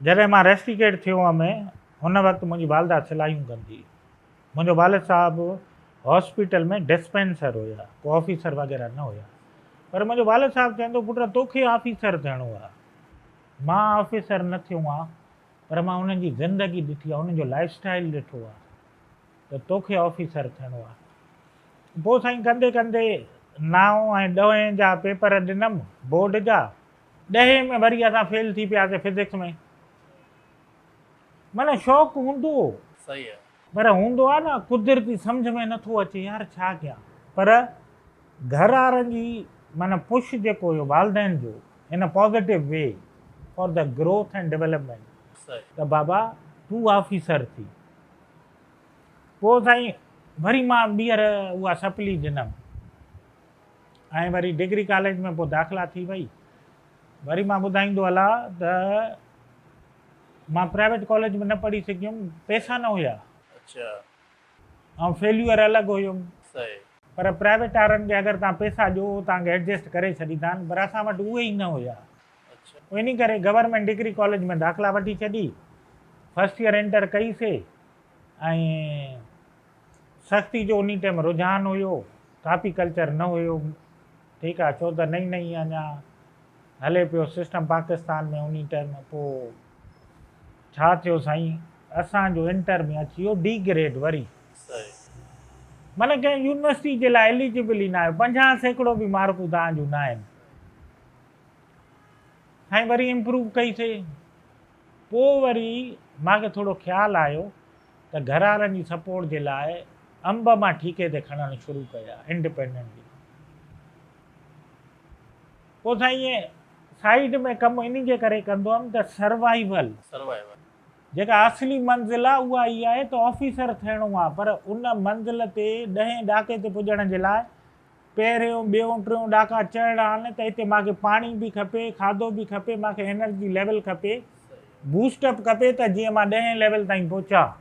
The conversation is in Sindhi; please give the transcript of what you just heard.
جڏهن مان ريسٽيڪيٽ ٿيو هئم ان وقت منهنجي والده سلايون ڪندي هئي. منهنجو والد صاحب هاسپيٽل ۾ ڊسپينسر هيا، ڪو آفيسر وغيره نه هيا. پر منهنجو والد صاحب چوندو پٽ توکي آفيسر ٿيڻو آهي. مان آفيسر نه ٿيو آهيان پر مان انهن جي زندگي ڏٺي آهي، انهن جو لائيف اسٽائيل ڏٺو آهي ته توکي آفيسر ٿيڻو آهي. پوء سائين ڪندي ڪندي نائون ۽ ڏهين جا پيپر ڏنم بورڊ جا. ڏهين ۾ وري اسان فيل ٿي پياسين فزڪس ۾. معنيٰ شوق هوندو هو. صحيح آهي. پر هوندو آهي نه قدرتي سمجهه ۾ نٿو اچي يار ڇا ڪيان. پر گهر وارن جي معنيٰ پش جيڪو هيو والدين جو ان ا positive way for the growth and development ته بابا تون آفيسر ٿي. پوء سائين وري مان ٻيهر اها سپلي ڏنم. ۽ وري ڊگري ڪاليج ۾ پوء داخلا ٿي وئي. وري مان ٻڌائيندو هلان ته مان پرائيويٽ ڪاليج ۾ نه پڙهي سگهيم، پئسا نه هيا. اڇا. آئون فيليور الڳ هيم. صحيح. پر پرائيويٽ وارن کي اگر توهان پئسا ڏيو هو توهان کي ايڊجسٽ ڪري ڇڏيندا آهن پر اسان وٽ اهي ئي نه هيا. اڇا. پوء انهي ڪري گورنمينٽ ڊگري ڪاليج ۾ داخلا وٺي ڇڏي. فرسٽ ييئر انٽر ڪئي سي ۽ سختي جو انهي ٽيم رجحان هيو ڪاپي ڪلچر نه هيو ٺيڪ آ ڇو ته نئي نئي اڃا هلي پيو سسٽم پاڪستان ۾ انهي ٽيم پو ڇا ٿيو سائين اسان جو انٽر ۾ اچي ويو ڊي گريڊ وري معنيٰ ڪنهن يونيورسٽي جي لاء اليجبل ئي نه آهيو پنجاهه سيڪڙو به مارڪون توهان جون نه آهن سائين وري امپروو ڪئي سي پوء وري مان کي ٿورو خيال آيو ته گهروارن جي سپورٽ جي لاء انب مان ٺيڪي تي کڻڻ شروع ڪيا انڊپينڊنٽلي پوء سائين ائين سائيڊ ۾ ڪم انهي جي ڪري ڪندو هئم ته سروائيول جيڪا اصلي منزل آهي اها هي آهي ته آفيسر ٿيڻو آهي پر ان منزل تي ڏهين ڏاڪي تي پڄڻ جي لاء پهريون ٻيون ٽيون ڏاڪا چڙهڻا آهن ته هتي مانکي پاڻي به کپي کاڌو به کپي مانکي انرجي ليول کپي بوسٽ اپ کپي ته جيئن مان ڏهين ليول تائين پهچان